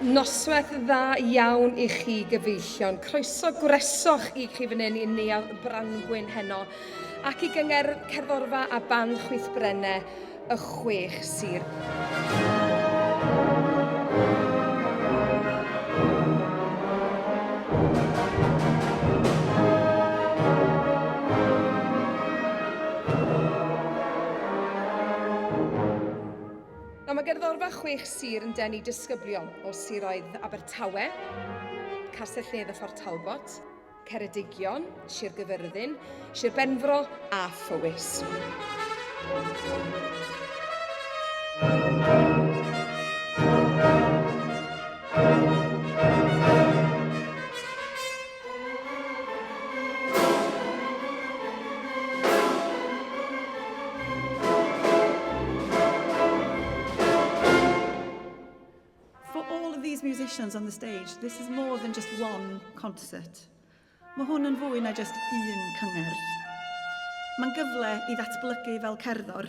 Noswaith dda iawn i chi gyfeillion. Croeso gwresoch i chi fan hyn i Neuadd Brangwyn heno ac i gyngerdd cerddorfa a band chwith brenne y chwech sir. Nawr mae gerddorfa chwech sir yn denu disgyblion o siroedd Abertawe, Castell Nedd a Phort Talbot, Ceredigion, Sir Gyfyrddin, Sir Benfro a Phowys. For all of these musicians on the stage, this is more than just one concert. Mae hwn yn fwy na just un cyngerdd. Mae'n gyfle i ddatblygu fel cerddor,